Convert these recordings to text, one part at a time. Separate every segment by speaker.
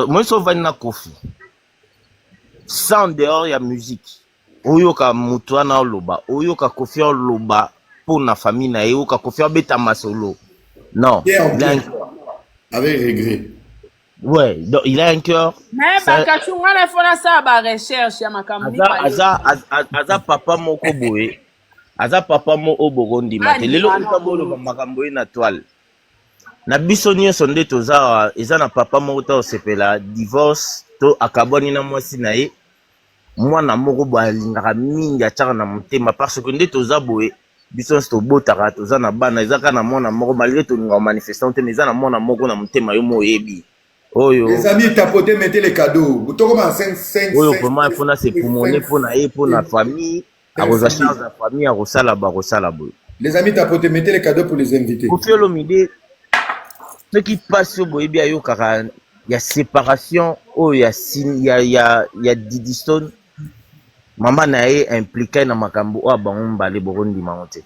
Speaker 1: moise ovandi na kofi sans dehors ya musique oyoka moto wana oloba oyoka kofi oloba mpo na famille na ye oyoka kofi abeta masolo non
Speaker 2: avec regret Ouais,
Speaker 1: donc il a un cœur. Mais ça... Bakachunga
Speaker 3: na fona sa ba recherche ya makambo ni ba. Aza aza
Speaker 1: papa moko boye. Aza papa moko bokondima te. Lelo ko tabolo makambo ye na toile. na biso nyonso nde toza eza na papa moko ta osepela divorce to akabwani na mwasi na ye mwana moko boye alingaka mingi atiaka na motema parce que nde toza boye biso nyonso tobotaka toza na bana eza kaka na mwana moko malgre tolingaka manifestant te mais eza na mwana moko na motema yo mo oyebi oyo ezali tapote
Speaker 2: metele kado botokoma oyo vraiment mpona se
Speaker 1: pumone mpona ye mpona famille akozwa charge ya famille akosala bakosala boye les amis tapote mettez
Speaker 2: les cadeaux pour les invités kofi olomide
Speaker 1: soki mpasi oyo boyebi ayokaka ya séparation oyo ya, ya, ya, ya didistone mama na ye implika na makambo oyo bango mibale bokondima yango te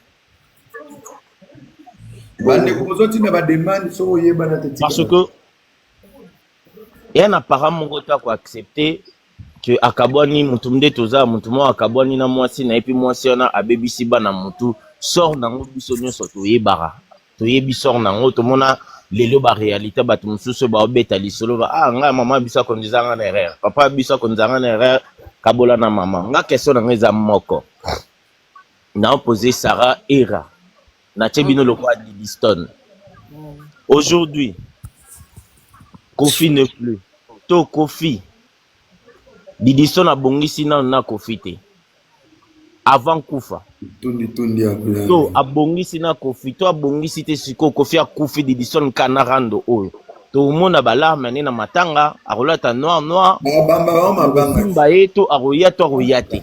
Speaker 1: bandeko bozotinda bademande soki oyebana te parce que ya na para moko te ako accepter que akabwani mutu mde toza mutu moko akabwani na mwasi na ye mpe mwasi wana abebisi bana mutu sort nango biso nyonso toyebaka toyebi sort nango tomona lelo ba realite bato mosusu baobeta lisolo ba ah ngai mama biso akondiza ngai na erreur papa biso akondiza ngai na erreur kabola na mama nga question na ngai eza moko naopose sara era natie bino mm. lokola libistone mm. aujourd'hui kofi ne plus to kofi didistone abongisi nano na kofi te avant kufa to abongisi na kofi to abongisi te sikoyo kofi akufi didison kanarando oyo tomona balarme ne na matanga akolata noir noir akomba ye to akoya to akoya te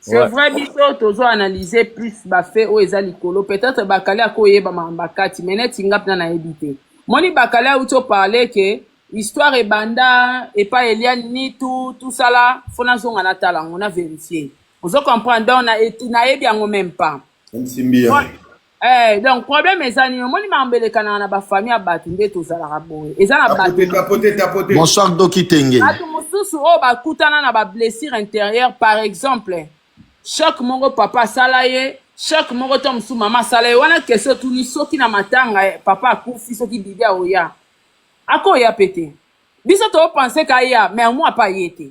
Speaker 3: C'est Ouais. vrai biso tozo analyser plus ba faits oyo eza likolo peut-être bakali akoyeba mamba kati mais neti nga pna nayebi te moni bakali auti oparle ke histoire ebanda epa eliane nitu tout ça là fo nazonga natala yango na verifier ozo comprendre donc na- et- nayebi yango même pas Nsimbi ya. Bon, Eh, donc problème eza nini omoni mambo elekanaka na bafamille ya bato nde tozalaka boye eza na bato Tapote, tapote, tapote.
Speaker 2: Bonsoir Doki
Speaker 4: Tenge. bato mosusu oyo
Speaker 3: bakutana na bablessure intérieure par exemple choc moko papa asala ye choc moko to mosusu mama asala ye wana kesio tuni soki na matanga eh, papa akufi soki bibi aoya akoya pe te biso topense ka aya mais amwa pa ye te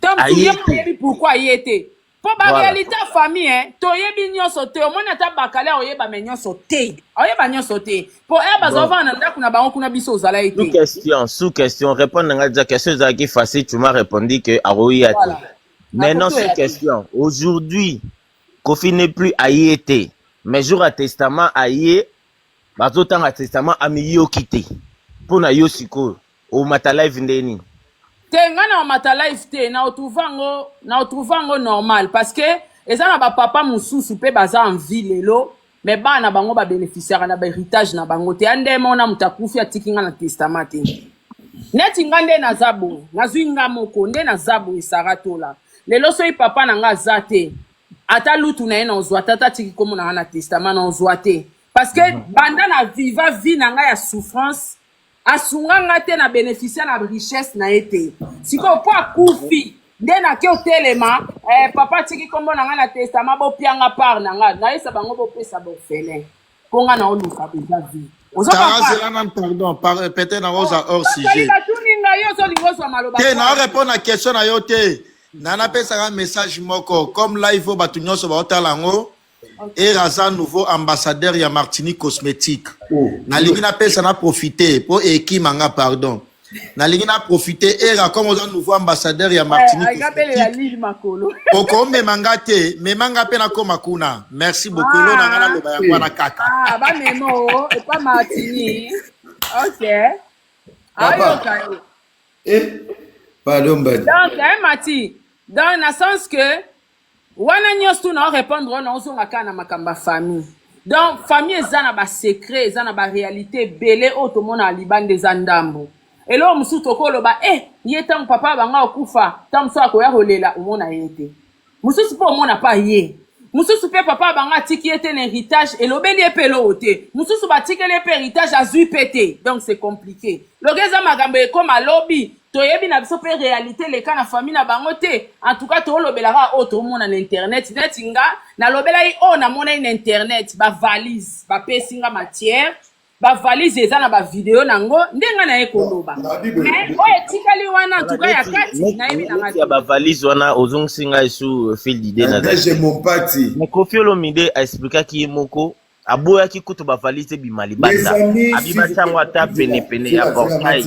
Speaker 3: to mosusu Aye ye te. ayebi pourkui aye te Po ba Voilà. realite ya famille hein, toyebi nyonso te omoni ata bakali akoyeba me nyonso te akoyeba nyonso te po ere baza Bon. kovanda na ndako na bango kuna biso ozala ye Sous te question, sous question,
Speaker 1: répondre na ngai déjà question ezalaki facile, tu m'as répondu que akoya te. voilà Maintenant akoki sous oya te question, aujourd'hui Kofi n'est plus aye te, mais jour ya testament aye, bazotanga testament amiyoki te. Mpo na yo sikoyo. Omata live nde nini? te nga na
Speaker 3: omata live te na otrouve yango na otrouve yango normal parce que eza na bapapa mosusu mpe baza en vie lelo me bana na bango babeneficiaka na baheritage na bango te ya ndema ona moto akufi atiki nga na testament te neti nga nde naza boye nazwi nga moko nde naza boye sara tola lelo soki papa na nga aza te ata lutu na ye na ozwa te ata atiki nkombo na nga na testament na ozwa te parce que banda na viva vie na nga ya souffrance asunga nga te na beneficia na richesse na ye te sikoyo mpo akufi nde nake otelema eh, papa atiki nkombo na ngai na testama bopianga part na ngai nayesa bango bopesa borfelin mpo ngai naoluka boza vi ozo Tara comprendre zela nanu
Speaker 4: pardon par peut-être na oza hors ozali sujet batuni ngai yo ozolinga ozwa maloba te na kaka orepondre na question na yo te na napesaka message moko comme live oyo bato nyonso baotala yango ere aza nouveau ambassadeur ya martini cosmétique oh. nalingi napesa na profite mpo ekima nga pardon nalingi na profite ere akoma oza nouveau ambassadeur ya martini eh, okomema nga te mema nga mpe nakoma kuna merci beaucoup elo na nga ah. naloba yango wana kaka ah, bamema o
Speaker 3: epa martini ok ayoka yo eh,
Speaker 2: pardon mbadi donc mati
Speaker 3: donc na sens que wana nyonso tu na orepondre wana ozonga kaka na makambo ya famille donc famille eza na basecret eza na barealité ebele oyo tomonaka libanda eza ndambo eloko mosusu tokoloba e eh, ye ntango papa ya banga okufa ntango mosusu akoya kolela omona ye te mosusu mpe omona pa ye mosusu mpe papa ya banga atiki ye te na héritage elobeli ye mpe eloko te mosusu batikeli ye mpe héritage azwi mpe te donc c'est compliqué loka eza makambo ekoma lobi toyebi na biso mpe realite leka na famille na bango te en tout cas tolobelaka oyo tomona na internet neti nga nalobelaki oyo namonaki na internet bavalise bapesi nga matière bavalise eza na bavideo na yango nde nga naye koloba mais oyo etikali wana en tout cas ya kati nayebi na nga ya bavalise wana
Speaker 1: ozongisi ngai su fil dide na
Speaker 2: kofi olomide
Speaker 1: aexplikaki ye moko aboyaki kutu bavalise ebima libanda abibatango ata penepene ya portail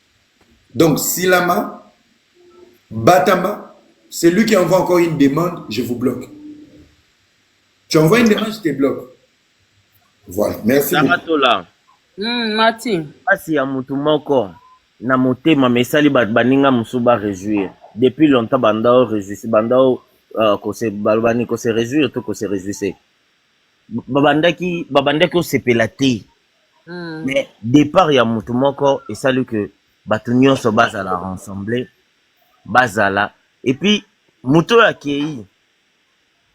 Speaker 2: Donc, Silama, Batama, c'est lui qui envoie encore une demande, je vous bloque. Tu envoies une demande, je te bloque. Voilà, merci. Namatola. Mm,
Speaker 3: Martin. Pasi ya
Speaker 1: mutu moko na motema mesali bato baninga mosusu ba réjouir depuis longtemps banda o réjouisse banda o uh, kose balobani kose réjouir to kose réjouisse babandaki babandaki osepela te Mm. mais départ ya moto moko esali que bato nyonso bazala rassemble bazala et puis moto oyo akei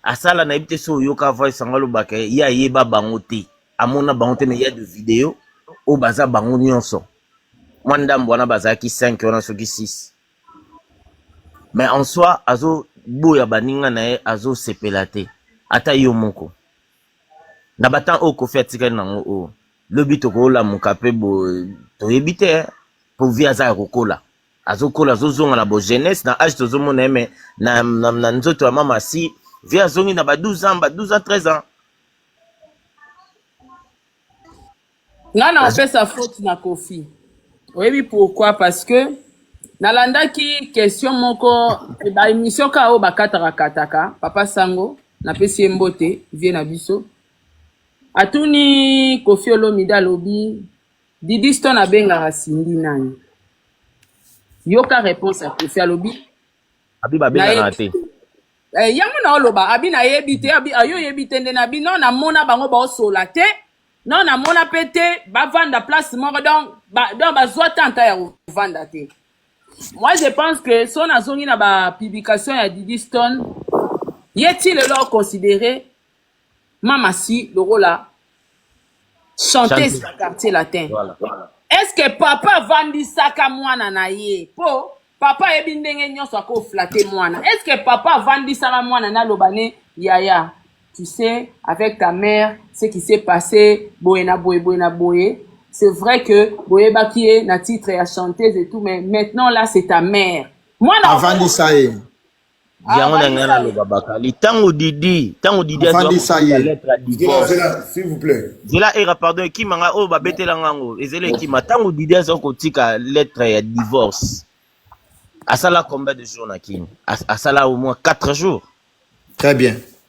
Speaker 1: asala nayebi te so oyoka voice yango alobaka ye ayeba bango te amona bango te mais ya de video oyo baza bango nyonso mwa ndambo wana bazalaki 5 wana soki 6 mais en soi azoboya baninga na ye azosepela te ata yo moko na ba temps oyo kofi atikali nango oyo lobi tokolamuka pe boye toyebi te po vie aza ya kokola azokola azozonga na bo jeunesse na age tozomona ye mais na, na, na nzoto ya mama si vie azongi na ba 12 ans ba 12 ans 13 ans
Speaker 3: Nga na Vas-y. opesa faute na Kofi. Oyebi pourquoi? Parce que nalandaki question moko ba emission ka oyo bakataka kataka papa sango napesi ye mbote vie na biso atuni kofi olomide alobi didi stone abengaka cindy nani yoka réponse ya kofi alobi Abi ba
Speaker 1: benga na nayebi te. Eh, yango
Speaker 3: na oloba abi nayebi te abi ayo oyebi te nde nabi no namona bango baosola te non namona mpe te bavanda place moko donc ba, donc bazwa tanta ya kovanda te moi je pense que so nazongi na bapublication ya didi stone ye ti lelo aconsidere mama si lokola chanteuse Chante. ya quartier latin Voilà. est ce que papa avandisaka mwana na ye mpo papa ayebi ndenge nyonso ako flatte mwana est ce que papa avandisaka mwana naloba ne yaya tu sais avec ta mère ce qui s'est passé boye na boye boye na boye c'est vrai que boyebaki ye na titre ya chanteuse et tout mais maintenant là c'est ta mère mwana avandisa ye
Speaker 4: Ah, yango na
Speaker 1: ngai naloba bakali ntango didi ntango didi azwaka
Speaker 4: lettre ya divorce
Speaker 2: zela era pardon
Speaker 1: ekima ngai oyo babetela ngai yango ezela ekima ntango didi azwa kotika lettre ya divorce asala combien de jours na kini asala au moins 4 jours très bien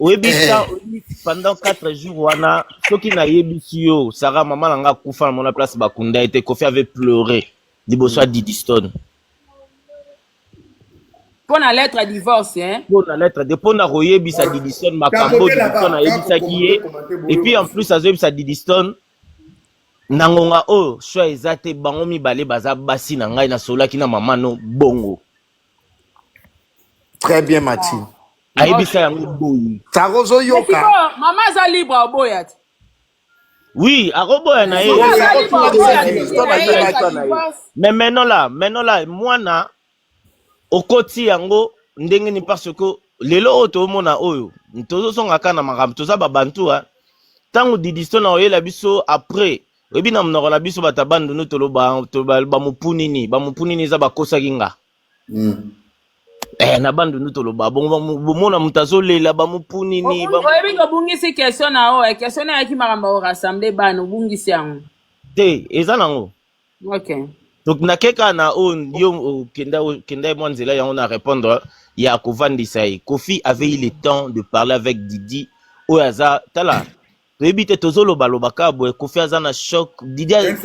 Speaker 1: oyebi eh. sa pendant 4 jours wana soki nayebisi yo sara mama na nga akufa na mona place bakunda ye te kofi avait pleure liboso ya didistone
Speaker 3: mpo na lettre ya divorce hein? mpo na lettre de mpo na
Speaker 1: koyebisa didistone makambo didistone ayebisaki ye epuis en plus azoyebisa didistone na ngonga oyo oh, shwa eza te bango mibale baza basi na ngai nasololaki na mama no bongo
Speaker 4: très bien mati ayebisa yango
Speaker 1: boye sako ozoyoka
Speaker 4: mama aza libre
Speaker 3: aboya te
Speaker 1: Oui, akoboya na ye. Mais maintenant là, maintenant là, mwana okoti yango ndenge ni parce que lelo oyo toomona oyo tozozongaka na makambo toza babantu a ntango didisto na oyela biso après oyebi na monoko na biso bato ya bandundu toloba toloba bamopu nini bamopu nini eza bakosaki nga Mm. eh, na bandundu toloba bongo bamu- bomona moto azolela bamopu nini Obungi- bamu- oyebi ke obungisi
Speaker 3: question na oyo question na yaki makambo ya orassemble bana obungisi yango te eza
Speaker 1: nango
Speaker 3: ok donc nakeka
Speaker 1: na oyo yo okenda okenda ye mwa nzela yango na répondre ya kovandisa ye kofi avait eu le temps de parler avec didi oyo aza tala toyebi te tozoloba loba kaka boye kofi aza na choc didiaza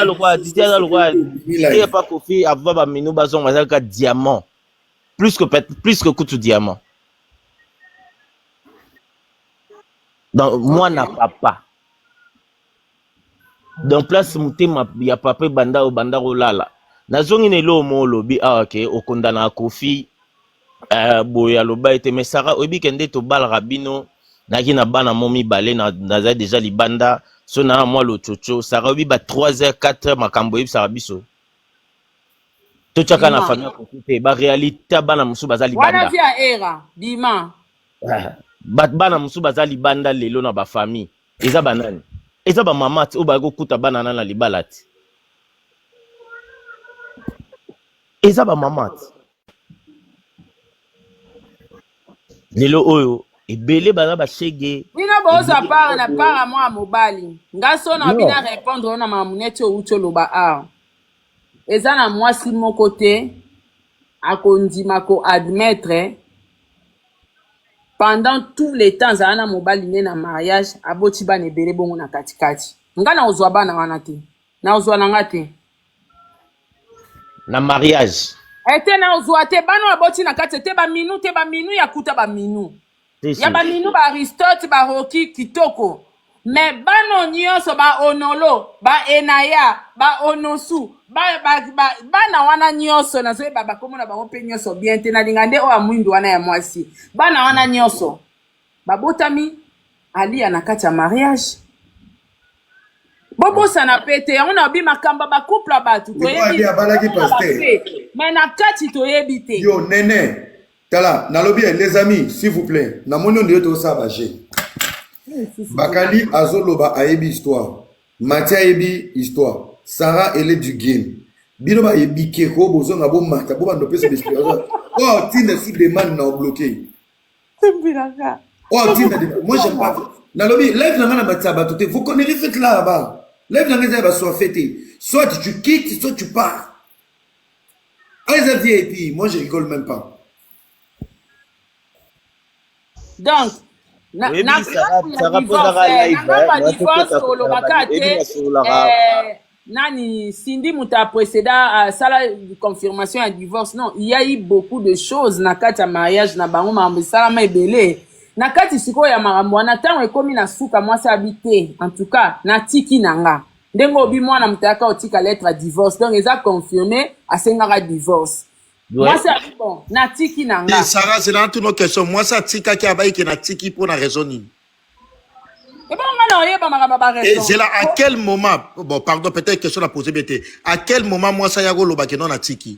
Speaker 2: lokola didiaza
Speaker 1: lokola ye pa kofi ava baminu bazonga aza kaka diamant plus que, plus que kutu diamant donc mwana papa donc place motema ya papa ebanda obanda kolala nazongi na eloo mo olobi awa ah, ke okondanaka kofi uh, boye aloba ete me sara oyebi ke nde tobalaka bino naki na bana mo mibale naza deja libanda so naa mwa lococo sara oyebi ba 3 heures 4 heures makambo oyebisaka biso totyaka na famille kofi te barealité ya bana mosusu baza libanda bana mosusu baza libanda lelo na bafamille eza banani eza bamama ti oyo baye kokuta bana na na libala ti eza bamama ti lelo oyo ebele baza bashege bino bozwa ebele part
Speaker 3: na part ya mwa mobali nga so na bino non arepondre yo na mamuneti owuti oloba awa eza na mwasi moko te akondima ko admettre pendant tout le temps azala na mobali ne na mariage aboti bana ebele bongo na katikati nga nakozwa bana wana te nakozwa na nga te
Speaker 1: na mariage ete nakozwa
Speaker 3: te bana oyo aboti na kati ete baminu te baminu ya kuta baminu ya baminu ba aristote baroki kitoko me bano nyonso baonolo baenaya baonosu bana ba, ba, ba, wana nyonso nazoyeba bakomona bango mpe nyonso bien te nalinga nde oyo amwindu wana ya mwasi bana wana nyonso babotami aliya na kati ya mariage bobosana mpe te yango nayobi makambo ya bacouple ya bato toyebi
Speaker 2: me na
Speaker 3: kati toyebi te yo nene
Speaker 2: tala nalobi eh, les amis s'il vous plaît namoni oyo ndeyo tokosala baje eh, bakali azoloba ayebi histoire mati ayebi histoire sara ele du game bino baye bikeko bozonga bomata bobanda opesa baexplication oyo oh, ntina su demande na obloke oyo oh, ntina moi j'aime pas nalobi live na ngai na matisa bato te vous connaissez fete là bas live na ngai eza ya basoife te soit tu quittes soit tu pars Eza VIP, moi je rigole même pas.
Speaker 3: Donc, na Oui, na Sarah- grâce ya Sarah divorce, Pozaka eh, live, na grâce ya eh, na divorce tokota tolobaka kosala te bayebi basololaka. eh, nani Cindy moto ya précéda asala confirmation ya divorce non il y a eu beaucoup de choses na kati ya mariage na bango makambo esalama ebele na kati sikoyo ya makambo wana ntango ekomi na suka mwasi abi te en tout cas natiki na nga ndenge obi mwana moto ayaka otika lettre ya divorce donc eza confirme asengaka divorce Ouais. mwasi abi bon natiki na nga Ti, Sarah, zela na tuno
Speaker 4: question. Mwasi atikaki abayi ke natiki mpo na raison nini?
Speaker 3: ebongo nga na oyeba makambo ya Et baraison zela à quel
Speaker 4: moment, bon pardon, peut-être question na poser bien te. À quel moment mwasi ayaki koloba ke non natiki?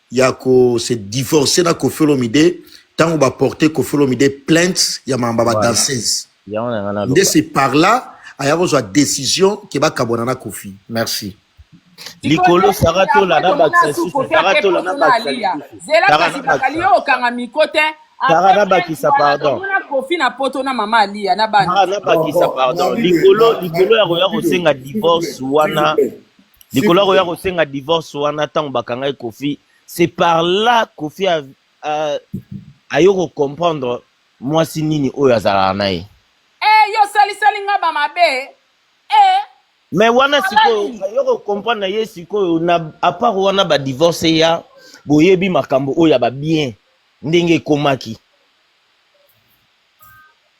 Speaker 4: ya ko se divorcer na Koffi Olomide tango ba porter Koffi Olomide plainte ya mamba ba danseuse nde c'est par là aya kozwa décision ke bakabwana na Koffi merci
Speaker 1: likolo sara tola na bakisa lisusu sara tola na bakisa
Speaker 3: lisusu okanga miko te sara na bakisa
Speaker 1: pardon kofi na poto
Speaker 3: na mama aliya na bana na bakisa pardon
Speaker 1: likolo likolo ya koya kosenga divorce wana likolo ya koya kosenga divorce wana ntango bakangaki kofi c'est par là kofi aye kocomprendre mwasi nini oyo azalaka na ye eh, yo
Speaker 3: osalisali nga bamabe eh,
Speaker 1: me wana sikoyo aye kocomprendre na ye sikoyo na apart wana badivorce ya boyebi makambo oyo ya babien ndenge ekomaki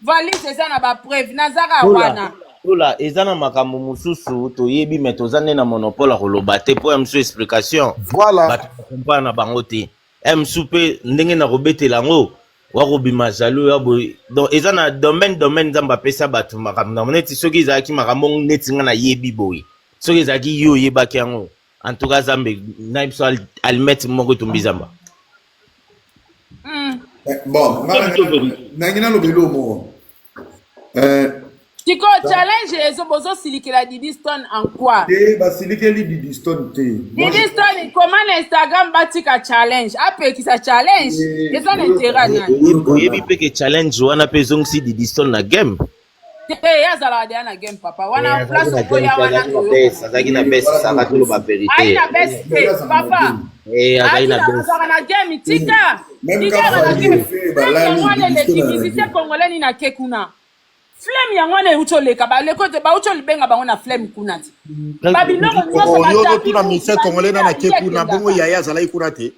Speaker 3: valise eza na ba preuve nazaka wana lola eza na
Speaker 1: makambo mosusu toyebi me toza nde na monopole ya koloba te mpo ya mosusu explication voilà. bato
Speaker 4: bakompana na
Speaker 1: bango te ya mosusu mpe ndenge na kobetela yango wakobima jaloux ya boye donc eza na domaine domaine nzambe apesa bato makambo nango neti soki ezalaki makambo neti ngai nayebi boye soki ezalaki yo oyebaki yango En tout cas Zambe na biso almet moko etumbi zamba. Hmm.
Speaker 2: Eh, bon, nangi naloba eloo moko. Eh.
Speaker 3: Sikoyo challenge ezo bozosilikela Didiston en quoi? Te eh, basilikeli
Speaker 2: Didiston te. Didiston
Speaker 3: comment na Instagram batika challenge apekisa challenge eza na intérêt nani? Oyebi mpe ke challenge
Speaker 1: wana mpe ezongisi Didiston na game. te ye azalaka
Speaker 3: deya na game papa wana eh, place okoya wana azalaki na bes
Speaker 1: saka toloba verite ayi na bes
Speaker 3: te papa eh, azalaka na
Speaker 1: game tika tika
Speaker 3: na game yango wana eleki musicien congolais nini ake kuna flame yango wana euti oleka baleko te bauti olibenga bango na flame kuna te babiloko nyonso oyokotuna musicien congolais
Speaker 4: nana ake kuna bongo yaya azalaki kuna te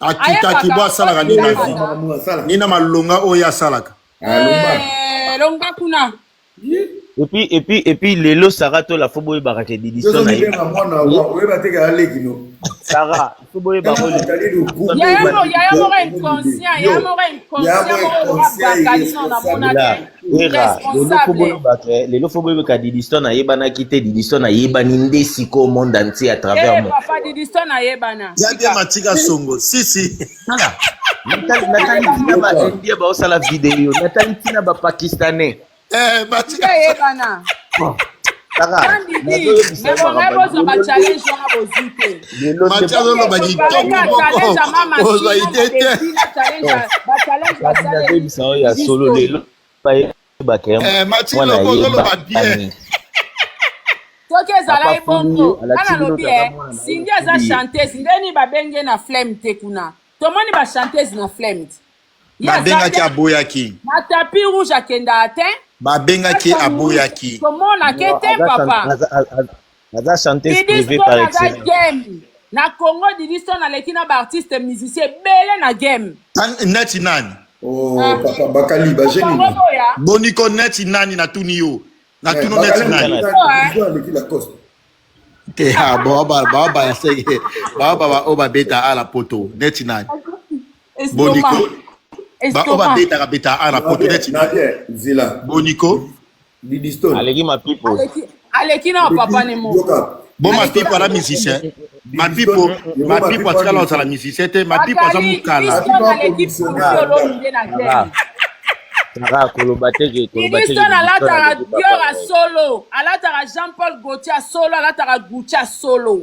Speaker 4: akitaki bo asalaka nini na vie nini na malonga oyo asalaka eh,
Speaker 3: longa kuna epuis
Speaker 1: epuis epuis lelo sara tola fo boyebaka ke didison na ye sara
Speaker 3: fo boyeba oyo Wera,
Speaker 1: lelo fo boyeba ke lelo fo boyeba ka Didiston ayebanaki te Didiston ayebani nde sikoyo monde entier à travers Eh, monde. papa Didiston ayebana.
Speaker 3: Ya bien matika
Speaker 4: songo. Si si. Tala, natali
Speaker 1: natali ntina ba Indien baosala video, natali ntina ba Pakistanais. Eh matika.
Speaker 4: Ayebana.
Speaker 3: soki ezalaki bongo nga nalobi e sindi aza chanteuse ndeni babengi ye na flame te kuna tomoni bachantese na flame te babengaki
Speaker 4: aboyaki na tapi rouge
Speaker 3: akendaka te babengaki
Speaker 4: aboyaki tomonake te
Speaker 3: papa aza
Speaker 1: chanteuse privée par excellence na congo
Speaker 3: division naleki na baartiste musicien ebele na game neti nani
Speaker 4: oh, ah. papa
Speaker 2: bakali bajeni boniko
Speaker 4: neti nani natuni yo natuni eh, neti nani te eh, ah, baoba baoba ya sege baoba baoba beta ala poto neti nani Boniko. Ba oyo babetaka betaka awa na poto neti boniko didistone
Speaker 2: aleki mapipo
Speaker 1: aleki na
Speaker 3: papa ne mo bo mapipo
Speaker 4: aza musicien mapipo mapipo atikala ozala musicien te mapipo aza mokala
Speaker 1: tara koloba te ke koloba te ministre alataka
Speaker 3: dior ya solo alataka jean paul gauthier ya solo alataka gucci ya solo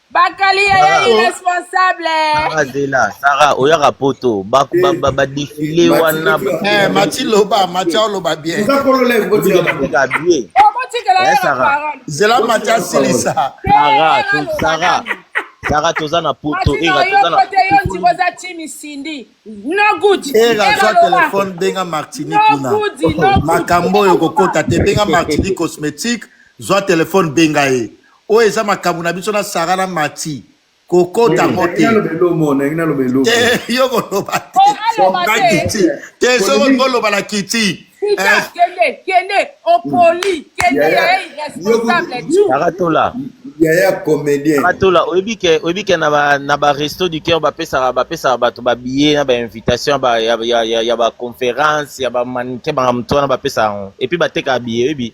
Speaker 3: Bakali ya ya irresponsable. Sarah Zela,
Speaker 1: Sarah oyaka poto ba ba ba, ba défilé wana. Eh Mati loba,
Speaker 4: Mati loba bien. Eza kolo lève
Speaker 2: ko
Speaker 1: tika tika bien. Eh Sarah.
Speaker 4: Zela Mati asilisa. Sarah, Sarah.
Speaker 1: Sarah toza na poto era toza na poto. Yo
Speaker 3: ndiko za chimi Cindy.
Speaker 4: No good. Era za téléphone benga Martini kuna. Makambo yo kokota te benga Martini cosmétique, zwa téléphone benga ye. oyo eza makambo na biso na sara na mati kokota ngo te Eh, yo koloba te Oh, aloba na te. kiti te soko koloba na kiti Peter, Eh,
Speaker 3: kende, kende, opoli, kende Yaya, ya irresponsable yo- tu. Sarah Tola.
Speaker 1: yaya
Speaker 2: comédien Sarah Tola, oyebi ke
Speaker 1: oyebi ke na ba na ba resto du cœur bapesaka bapesaka bato ba billet na ba invitation ya ba ya ya ya, ya ba conférence ya ba mannequin ba moto wana bapesaka yango. Et puis batekaka billet oyebi.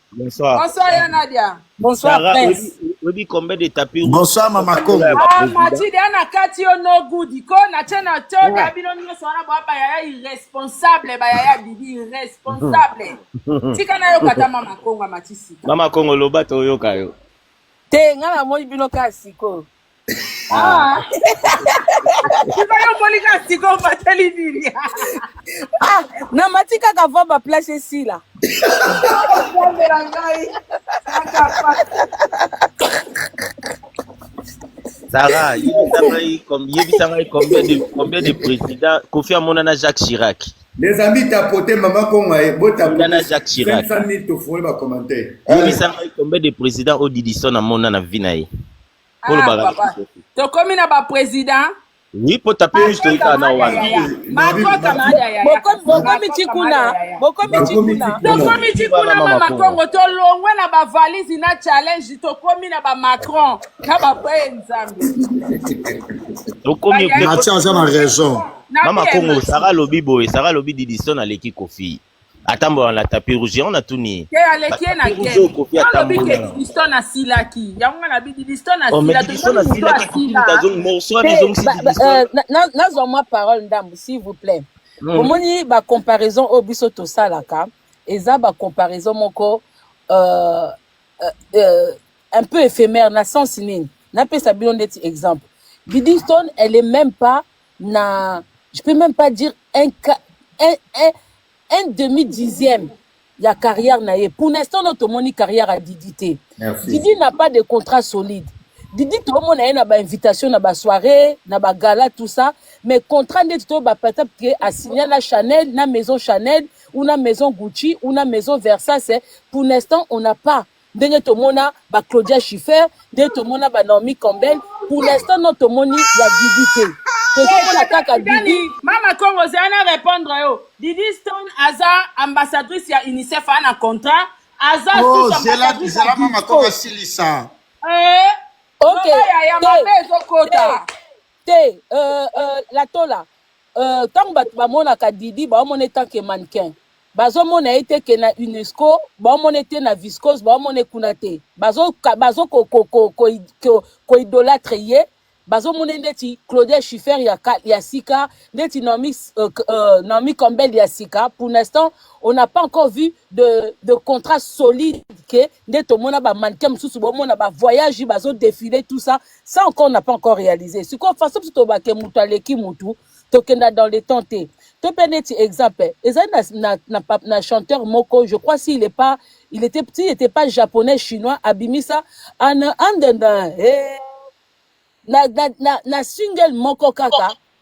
Speaker 5: Bonsoir. Bonsoir
Speaker 1: ya Nadia.
Speaker 3: Bonsoir Sarah, Prince.
Speaker 5: Oyebi combien de
Speaker 1: tapis Bonsoir Mama Kongo.
Speaker 4: Ah Mathilde ana
Speaker 3: kati yo no good ko na tena to da ah. bino nyoso wana bwa ba yaya irresponsable ba yaya bibi irresponsable. Tika na yo kata Mama Kongo matisi. Mama Kongo loba to
Speaker 1: yoka yo. Te nga na
Speaker 5: moi bino kasi ko. Ah. Ah, na mati kaka va ba place esila
Speaker 1: Sarah, yebisa ngai combien de combien de présidents Kofi Amona na Jacques Chirac. Les amis tapoter
Speaker 2: maman Kongo et bo tapoter na Jacques Chirac.
Speaker 1: 500 000
Speaker 2: to foyer ba commentaire. Yebisa ngai combien de
Speaker 1: présidents Odidison Amona na vie na ye. Ah, olobaka papa. nini kofi
Speaker 3: Tokomi na ba president. oui po tapi
Speaker 1: rouge toyi kaka na wana Makota mada yaya. Bokomi
Speaker 5: bokomi ti kuna, bokomi ti Bakomi kuna. ti kuna. Tokomi
Speaker 3: ti kuna Mama mama Kongo. Kongo tolongwe na ba valise na challenge tokomi na ba Macron na ba pe Nzambe.
Speaker 1: tokomi Ba yaya. Natia aza na raison.
Speaker 4: Na Mama bien, Kongo, merci.
Speaker 1: Sarah alobi boye, Sarah alobi Didison aleki Kofi. atambola na tapis rouge yango natuni ye te aleki ye na Tapis
Speaker 3: rouge oyo game Koffi olobi atambola ke na yango. didiston asilaki yango nga nabi didiston Oh, mais asila Didiston tosomi moto asilaki Koffi asila moto azongi morceau wana Te, ezongisi ba- ba- Didiston.
Speaker 5: euh, na- na- nazwa mwa parole ndambu s'il vous plaît Mm. omoni ba comparaison oyo biso tosalaka eza ba comparaison moko euh, euh, euh, un peu éphémère na sens nini napesa bino ndeti exemple didiston elle est même pas na je peux même pas dire un, un, un, un demi dixième ya carrière na ye pour l'instant no tomoni carrière ya didi te didi n'a pas de contrat solide didi tomona ye na bainvitation na basoirée na bagala tout ça mais contrat ndeti to bapatap ke asigna na chanel na maison chanel ou na maison gucci ou na maison versase pour l'instant on n'a pas ndenge tomona ba Claudia Schiffer, ndenge tomona ba Naomi Campbell, pour l'instant non tomoni ya Didi te. Tozomona kaka Didi.
Speaker 3: Mama Kongo zela na repondre yo. Didi Stone aza ambassadrice ya UNICEF a na contrat, aza oh, sous ambassadrice
Speaker 4: ya Mama Kongo asilisa. Eh,
Speaker 5: okay. Loba yaya mabe ezokota. te euh, euh, la tola euh, ntango bato bamonaka didi baomona ye tant que mannequin bazomona ye te ke na unesco baomona ye te na viscose baomona ye kuna te bazokoidolatre ye bazomona ye ndeti claudia schiffer ya, ka- ya sika ndeti naomi, euh, k- euh, naomi campbell ya sika pour l'instant on n'a pas encore vu de, de contrat solide ke nde tomona bamannequin mosusu bomona bavoyage bazodefile tout ça ça encore n'a pas encore réalisé sikoyo façon biso tobake moto aleki motu tokenda dans le temps te to mpe neti exemple ezali na, na, na, pa- na chanteur moko je crois s'il est pas il était petit il était pas japonais chinois abimisa an andenda hey, na, na, na, na single moko kaka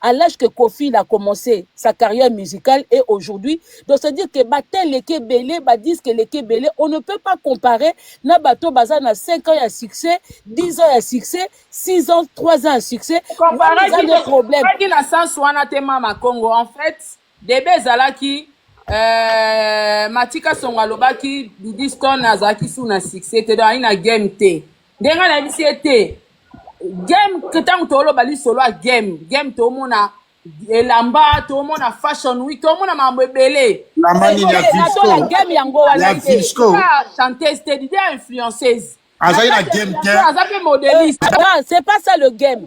Speaker 5: à l'âge que Kofi il a commencé sa carrière musicale et aujourd'hui donc c'est à dire que bata eleki ebele ba disque eleki ebele on ne peut pas comparer na bato baza na 5 ans ya succès 10 ans ya succès 6 ans 3 ans ya succès wana eza nde
Speaker 3: problème Comparaki na sens wana te mama Congo en fait debe ezalaki euh, matika songo alobaki didiston azalaki su na succès te donc ayi na game te nde ngai nayebisi ye te game ntango toloba lisolo ya game game tomona elamba tomona fashion week tomona makambo ebele
Speaker 4: game yango wana
Speaker 5: te
Speaker 4: chanteuse te
Speaker 5: dide influenceuse azali na game
Speaker 4: te aza mpe modeliste
Speaker 5: c'est pas ça le game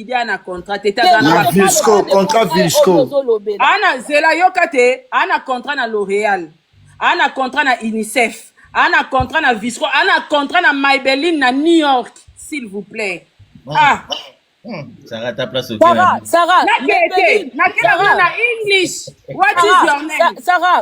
Speaker 4: idée ana contrat te te aza na na vilsco contrat vilsco ana zela
Speaker 3: yoka te ana contrat na l'oréal ana contrat na unicef ana contrat na visco ana contrat na maybelline na new york s'il vous plaît ah
Speaker 1: Sarah, ta place au Sarah, Sarah,
Speaker 5: na Sarah,
Speaker 3: na English. What Sarah, is your name? Sarah,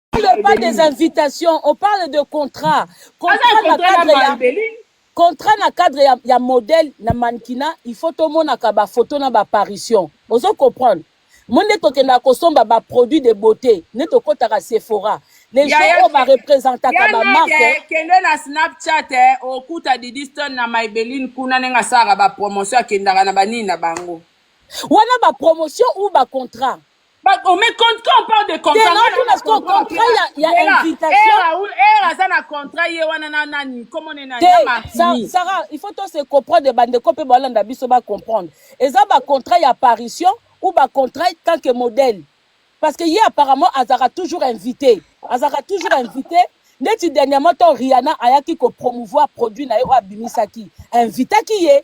Speaker 5: parle pas des invitations, on parle de contrat. Contrat na cadre ya contrat na cadre ya, ya modèle na mannequinat, il faut tout monde a ba photo na ba apparition. Ozo comprendre? Moi nde tokenda kosomba ba produits de beauté, nde tokotaka Sephora. Les gens oyo ba représentaka ba marque. Kende na
Speaker 3: Snapchat eh, okuta Didiston na Maybelline kuna ndenge asalaka ba promotion akendaka na banini na bango. Wana ba
Speaker 5: promotion ou ba contrat. Ba- oh, mais
Speaker 3: quand, quand on parle de contrat, Te, nga naotuna naza na sikoyo contrat contrat mpela. ya- ya
Speaker 5: Lela, invitation. eh, Raoul, eh, aza na contrat ye wana na nani komo ne nani te na martini Sa- sarah il faut to se comprendre bandeko mpe balanda biso ba comprendre eza ba contrat ya apparition ou ba contrat tant que modèle parce que ye apparemment azalaka toujours invité azalaka toujours invité neti dernièrement to riana ayaki ko promouvoir produit na ye oyo abimisaki invitaki ye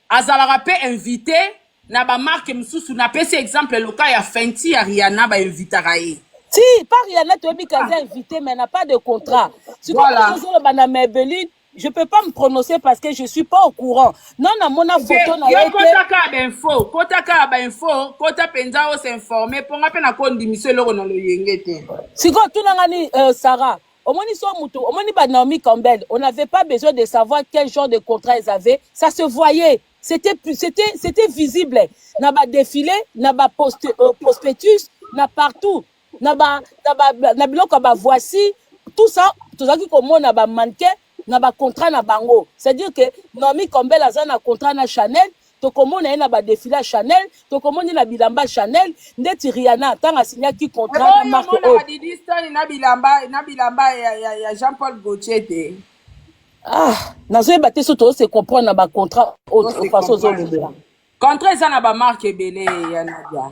Speaker 3: azalaka mpe invite na bamarke mosusu napesi exemple loka ya fenti ya riana bainvitaka ye ti par yana
Speaker 5: toyebi ke aza invité mais na pas de contrat sikoyo Voilà. voilà. ozoloba na mabeline je peux pas me prononcer parce que je suis pas au courant non namona photo na ye yo te kota kaka bainfo kota kaka bainfo
Speaker 3: kota mpenza osinforme mpo nga mpe nakondimisa eloko na loyenge te sikoyo tunanga
Speaker 5: ni euh, sarah Omoni so mutu, omoni ba Naomi Campbell, on n'avait pas besoin de savoir quel genre de contrat ils avaient, ça se voyait. C'était c'était c'était visible na ba défilé, na ba post, euh, prospectus, na partout, na ba na ba na biloko ba voici, tout ça tozalaki komona ba mannequin na ba contrat na bango c'est dire que Noami Kombel aza na contrat na Chanel tokomona ye na badefile ya chanel tokomoni na bilamba chanel ndeti riana ntango asinyaki contrat na marke oyo didi stone na
Speaker 3: bilamba na bilamba ya, ya, ya jean paul gautier te ah
Speaker 5: nazoyeba te so tozose comprendre na bacontrat oyo façon ozolobela contrat eza na
Speaker 3: bamarke ebele ya nadia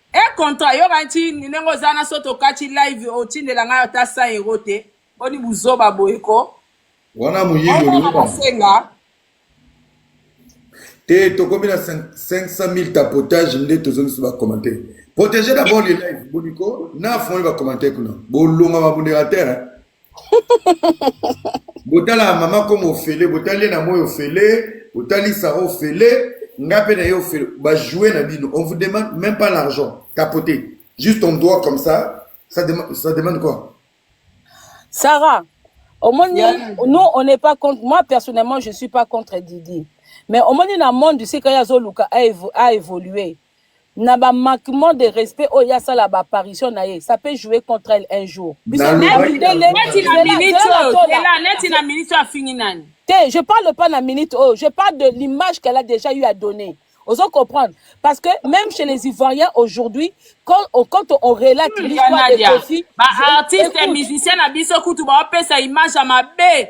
Speaker 3: E contra yoka nti ndenge oza na soto okati live otindela ngai ata 100 euro te boni buzoba boye ko wana
Speaker 2: moyibi olingosenga te tokomi na 500000 tapotage nde tozongisi bacommentaire protégé d'abord les live boliko na afongoli bacommentaire kuna bolonga bamoderateur botala mama koma ofele botali ye na moi ofele botali sara ofele nga mpe na ye ofele bajoue na bino on vous demande même pas l'argent capote juste on doit comme ça ça demande, ça demande quoi
Speaker 5: sarah omoni yeah. nous on n'est pas contre moi personnellement je suis pas contre didi mais omoni na monde esika ye azoluka a évoluer na ba manquement de respect oyo asala ba apparition na ye ça peut jouer contre elle un jour te je parle pas na minute oyo je parle de l'image qu'elle a déjà eu à donner ozo comprendre parce que même chez les ivoiriens aujourd'hui quand on, quand on relate l'histoire de Kofi ba artistes
Speaker 3: musiciens na biso kutu ba pesa image ya mabe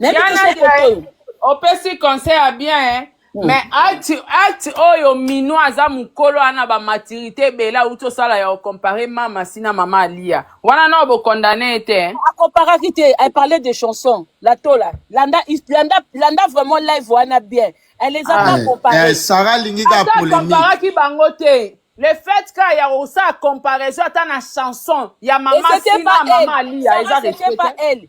Speaker 5: Diana Zaire,
Speaker 3: opesi conseil ya bien hein? Mm. mais acte acte oyo mino aza mokolo ana bamaturité ebele auti osala ya ocompare mama si na mama aliya wana nao bocondamne ye te acomparaki te
Speaker 5: elle parlait de chanson la tola landa, landa, landa vraiment live wana bien elle les a ah, pas comparé eh, sara alingi ka
Speaker 4: polémique bango te
Speaker 3: le fait ka ya kosala comparaison ata na chanson ya mama sina mama aliya eza respecte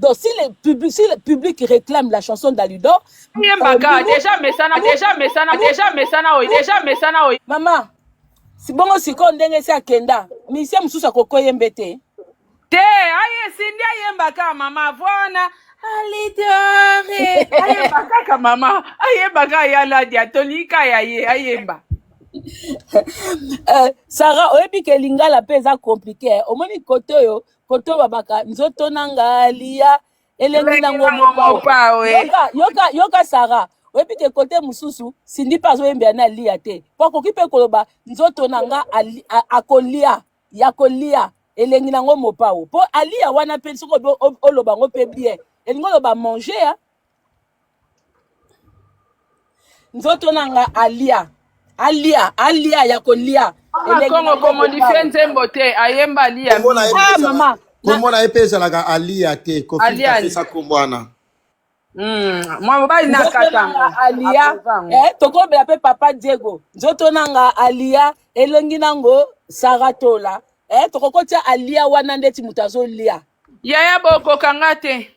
Speaker 5: Donc si le public, si le public réclame la chanson d'Alidor, yembaka euh, deja
Speaker 3: mesana deja mesana deja mesana oyo
Speaker 5: deja mesana oyo mama sibongo sikoyo ndenge esi akenda misie mosusu akokoyembe te te aye
Speaker 3: sindi ayembaka mama vona alidore ayemba kaka mama ayemba kaka ya ladia tolika ya ye ayemba euh,
Speaker 5: sara oyebi ke lingala mpe eza komplike omoni kote oyo koto babaka nzoto na nga liya elengi na ngo mopao yoka, yoka, yoka sara oyebi ke kote mosusu sindi mpe azoyembela na aliya te mpo akoki mpe koloba nzoto na nga akolia ya kolia elengi na ngo mopao mpo aliya wana mpe soki oloba ngo mpe bien elingi oloba manger nzoto na nga alia alia alia ya kolia kongo
Speaker 3: komodifie nzembo te ayemba alia ah, mama
Speaker 5: kombo na ye mpe
Speaker 4: ezalaka alia te kofiapesa kombo wana hmm,
Speaker 3: mwa mobali na katanga alia
Speaker 5: eh, tokobela mpe papa diego nzoto na nga alia elongi nango saratola eh, tokokotia alia wana ndeti moto azolia yaya bokoka
Speaker 3: nga te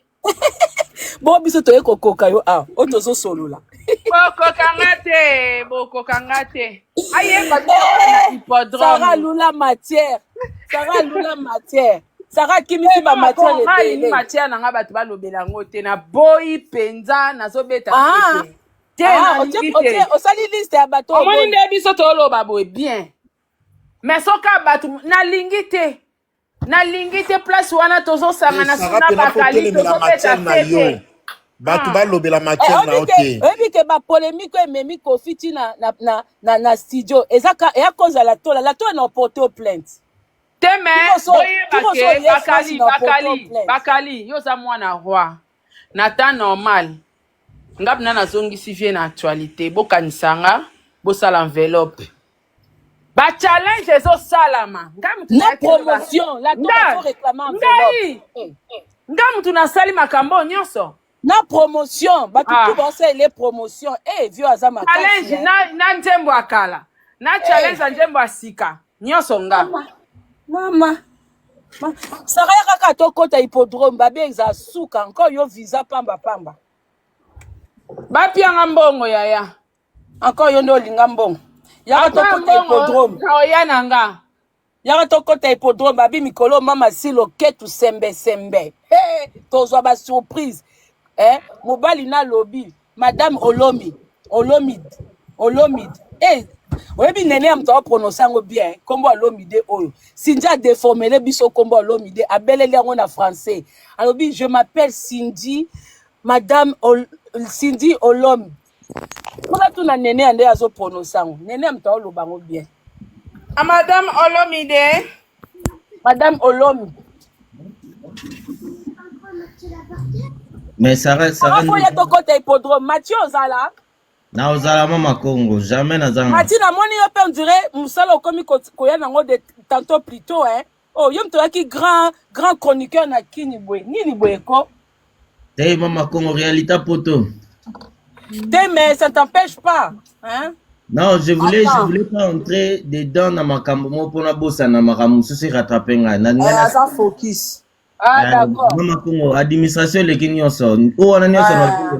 Speaker 5: bo biso toye kokoka yo awa oyo tozosolola bokokanga te
Speaker 3: bokokanga te ayeba te na sara hippodrome lula matière sara
Speaker 5: lula matière sara akimisi ba matière Ngai ebele matière na
Speaker 3: ngai bato balobela yango te naboyi mpenza nazobeta Ah, te te ah, nalingi otie- te otie-
Speaker 5: osali liste ya bato omoni oboyi nde biso toloba
Speaker 3: boye bien mais soki ya bato nalingi te nalingi te place wana tozosangana suna bakali tozobeta fete bato ah.
Speaker 4: balobela eh, matière na yo te oyebi ke bapolemike
Speaker 5: oyo ememi kofi ti na, na, na, na, na studio eza eya koza latola latola na oporto plainte te me
Speaker 3: oyeba ke bakali bakali bakali yo oza mwana roi na temps normal nga bina nazongisi vie na actualité bokanisa nga bosala enveloppe ba challenge ezosalama na
Speaker 5: promotion la ngai nga mutu
Speaker 3: nasali makambo oyo nyonso na promotion
Speaker 5: bato ah. tu baosalela promotion e eh, vio aza makasi na, na nzembo
Speaker 3: ya kala na eh. challenge ya nzembo ya sika nyonso nga mama
Speaker 5: saka ya kaka tokota hippodrome babe eza suka nko yo visa pamba pamba
Speaker 3: bapianga mbongo yaya Encore yo
Speaker 5: nde olinga mbongo. Yaka tokota hippodrome. Oya na nga.
Speaker 3: Yaka tokota
Speaker 5: hippodrome babi mikolo mama silo ketu sembe sembe. Hey, tozwa ba surprise. Eh, mobali na lobi, madame Olomi, Olomid, Olomid. Eh, hey, oyebi nene ya moto aoprononce yango bien nkombo ya lomide oyo sindia adeformele biso nkombo ya lomide abeleli yango na français alobi je m'appelle cindy madame Ol Cindy Olom Kuna tuna nene ande azo prononce yango. Nene ya mtawa loba ngo bien. A madame
Speaker 3: Olomide.
Speaker 5: Madame Olomi.
Speaker 1: Mais Sarah Sarah. Sarah ya tokota
Speaker 5: hippodrome. Mathieu ozala. Na ozala
Speaker 1: mama Congo, jamais na zanga. Mathieu na moni yo pe on
Speaker 5: dirait musala okomi koya nango de tantôt plus tôt hein. Oh, yo moto oyaki grand grand chroniqueur na kini boye nini boye ko hey, eh, mama
Speaker 1: congo réalité poto te
Speaker 5: mais ça t'empêche pas hein? non
Speaker 1: je voulais Attends. je voulais pas entrer dedans na makambo moko mpona bosana makambo mosusu erattrape ngai naza eh, focus ah, eh,
Speaker 5: d'accord mama congo
Speaker 1: administration eleki nyonso o wana nyonso ah.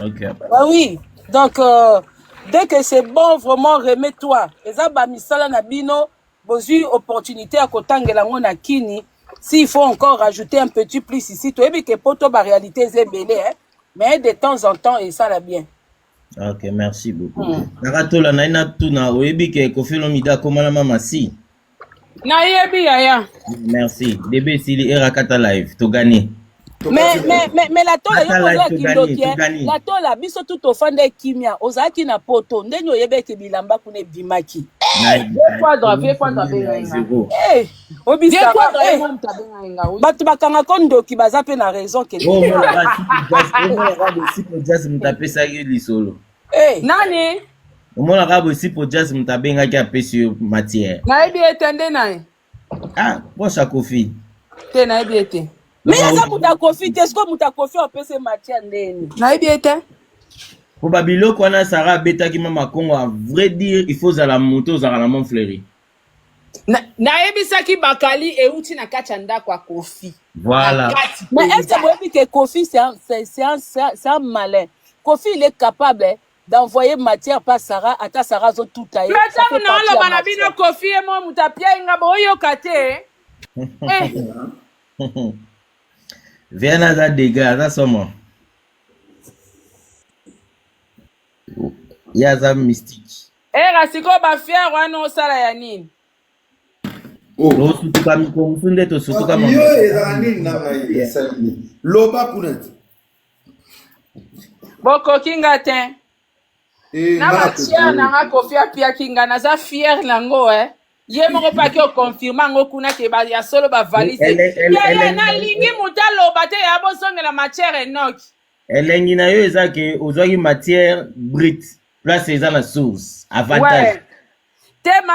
Speaker 1: Ok. Ah oui,
Speaker 5: donc euh, dès que c'est bon, vraiment remets-toi. Eza ba misala na bino, bozui opportunité ya kotangela ngo na kini. S'il faut encore rajouter un petit plus ici, toyebi que poto ba réalité ezebele, hein. Mais de temps en temps, et ça la bien. Ok,
Speaker 1: merci beaucoup. Hmm. Nakatola na ina tuna oyebi ke Koffi Olomide akomana mama si.
Speaker 3: Nayebi yaya. Merci. Debe
Speaker 1: sili era kata live to gagner. Mais mais mais
Speaker 5: mais la tola yo oza kindoki eh. la tola biso tout ofanda kimia ozalaki na poto ndenge oyebeki bilamba kuna ebimaki. Eh, vieux Kwadra, vieux Kwadra, Benga. Eh. obisa ba eh, bato bakanga ko ndoki baza mpe na raison ke jazz moto apesaki
Speaker 3: lisolo eh. nani omonaka
Speaker 1: boye sipo jazz moto abengaki apesi yo matière nayebi ete nde
Speaker 3: naye ah
Speaker 1: posa kofi te nayebi
Speaker 3: ete me aza moto
Speaker 5: akofi te sikoyo moto akofi apesi matière ndeni nayebi ete
Speaker 3: mpo
Speaker 1: babiloko wana sara abetaki mama kongo a vrai dire il faut ozala moto ozalaka na mont fleurie Na-
Speaker 3: nayebisaki bakali euti na kati ya ndako ya kofi Voilà. na kati
Speaker 1: Mais est-ce mpenza que
Speaker 5: boyebi que Kofi c'est un, c'est, c'est un, c'est un- c'est un malin. Kofi il est capable hein, d'envoyer matière par Sarah, ata Sarah azo tout tailler, ça ntango fait partie ya naoloba na
Speaker 3: bino matière. kofi ye mo moto apiai nga boyoka te eh.
Speaker 1: Viana aza dega, aza somo. Ye aza mystique. Era sikoyo ba
Speaker 3: fière wana osala ya nini?
Speaker 2: Oh. Tosutuka
Speaker 1: mikolo mosusu nde tosutuka mama. Yo ezala nini na
Speaker 2: ngai esali nini? Loba kuna ti.
Speaker 3: Bokoki nga te. Eh, na ba fière na nga kofi apiaki nga naza fière na ngo eh. ye moko mpe ake okonfirme yango kuna ke ba- ya solo bavalise Elle est- elle- elle yaya est- nalingi moto aloba te ya bozongela matière enoki elengi na yo
Speaker 1: eza ke ozwaki matière brute
Speaker 3: place
Speaker 1: eza na source avantage ouais. te ma